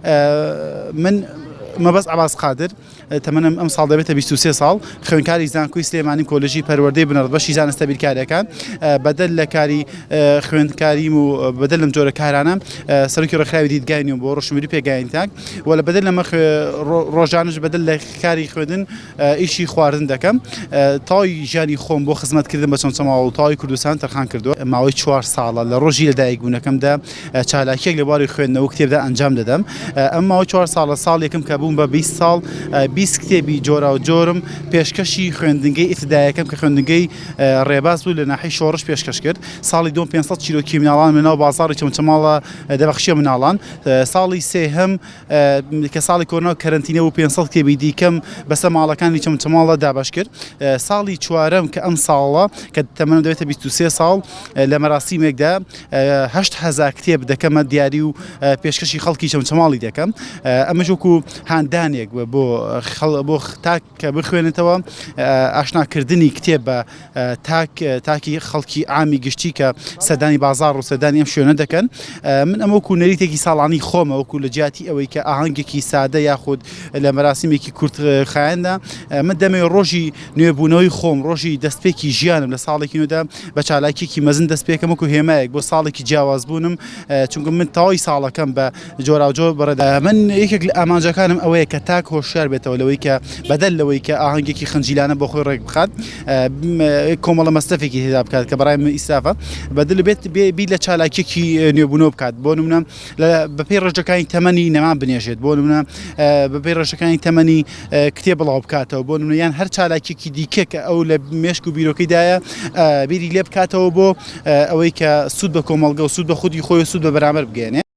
من مەبەست عەباس قادر تەمەنم ئەمساڵ دەبێتە 23 ساڵ خوێنکاری زانکۆی سلێمانی کۆلژی پەروەردەی بنەڕەت بەشی زانستە بیرکاریەکان بەدەل لە کاری خوێندکاریم و بەدەل لەم جۆرە کارانە سەرکی ڕێکخراوی دیدگاین و بۆ ڕشمری پێگاین تاک وە لە بەدەل لەمە ڕۆژانش بەدەل لە کاری خوێندن ئیشی خواردن دەکەم. تەواوی ژیانی خۆم بۆ خزمەتکردن بە چەمچەماڵ و تەواوی کوردستان تەرخان کردووە. ماوەی چوار ساڵە لە ڕۆژی لەدایکبوونەکەمدا چالاکییەک لە بواری خوێندنەوە و کتێبدا ئەنجام دەدەم. ئەمە ماوەی چوار ساڵە، ساڵێکم کە بووم بە بیست ساڵ، بیست کتێبی جۆراوجۆرم پێشکەشی خوێندنگەی ئیبتیداییەکەم کە خوێندنگەی ڕێباز بوو لە ناحیەی شۆڕش پێشکەش کرد. ساڵی دووەم پێنج سەد چیرۆکی مناڵانم لەناو بازاڕی چەمچەماڵ دەبەخشییە مناڵان. ساڵی سێهەم. کە ساڵی کۆرنا و کەرەنتینە بوو پێنج سەد کتێبی دیکەم بەسەر ماڵەکانی چەمچەماڵدا دابەش کرد. ساڵی چوارەم کە ئەمساڵە کە تەمەنم دەبێتە بیست و سێ ساڵ لە مەراسیمێکدا هەشت هەزار کتێب دەکەمە دیاری و پێشکەشی خەڵکی چەمچەماڵی دەکەم. ئەمەش وەکوو هاندانێک بۆ خەڵ بۆ تاک کە بخوێنێتەوە ئاشنا کردنی کتێب بە تاک تاکی خەڵکی ئامی گشتی کە سەدانی بازار و سەدانی ئەم شوێنە دەکەن من ئەمە وکو نەریتێکی ساڵانی خۆمە وەکو لە جیاتی ئەوەی کە ئاهەنگێکی سادە یاخود لە مەراسیمێکی کورت خایەندا من دەمێ ڕۆژی نوێبوونەوەی خۆم ڕۆژی دەستپێکی ژیانم لە ساڵێکی نوێدا بە چالاکیێکی مەزن دەست پێکەم وکو هێمایەک بۆ ساڵێکی جیاواز بوونم چونکە من تەواوی ساڵەکەم بە جۆراوجۆر بەڕێدا من یەکێک لە ئامانجەکانم ئەوەیە کە تاک هۆشیار بێتەوە لەوەی کە بەدەل لەوەی کە ئاهەنگێکی خنجیلانە بۆ خۆی ڕێک بخات کۆمەڵە مەستەفێکی هێدا بکات کە بەڕای من ئیسافە بەدل بێت بی لە چالاکیەکی نوێبوونەوە بکات بۆ نمونە بەپی ڕژەکانی تەمەنی نەمان بنێژێت بۆ نمونە بەپی ڕژەکانی تەمەنی کتێ بڵاو بکاتەوە بۆ نمونیان هەر چالاکیەکی دیکە کە ئەو لە مێشک و بیرۆکەیدایە بیری لێ بکاتەوە بۆ ئەوەی کە سوود بە کۆمەڵگە و سوود بە خودی خۆی سوود بە بەرامەر بگەێنێ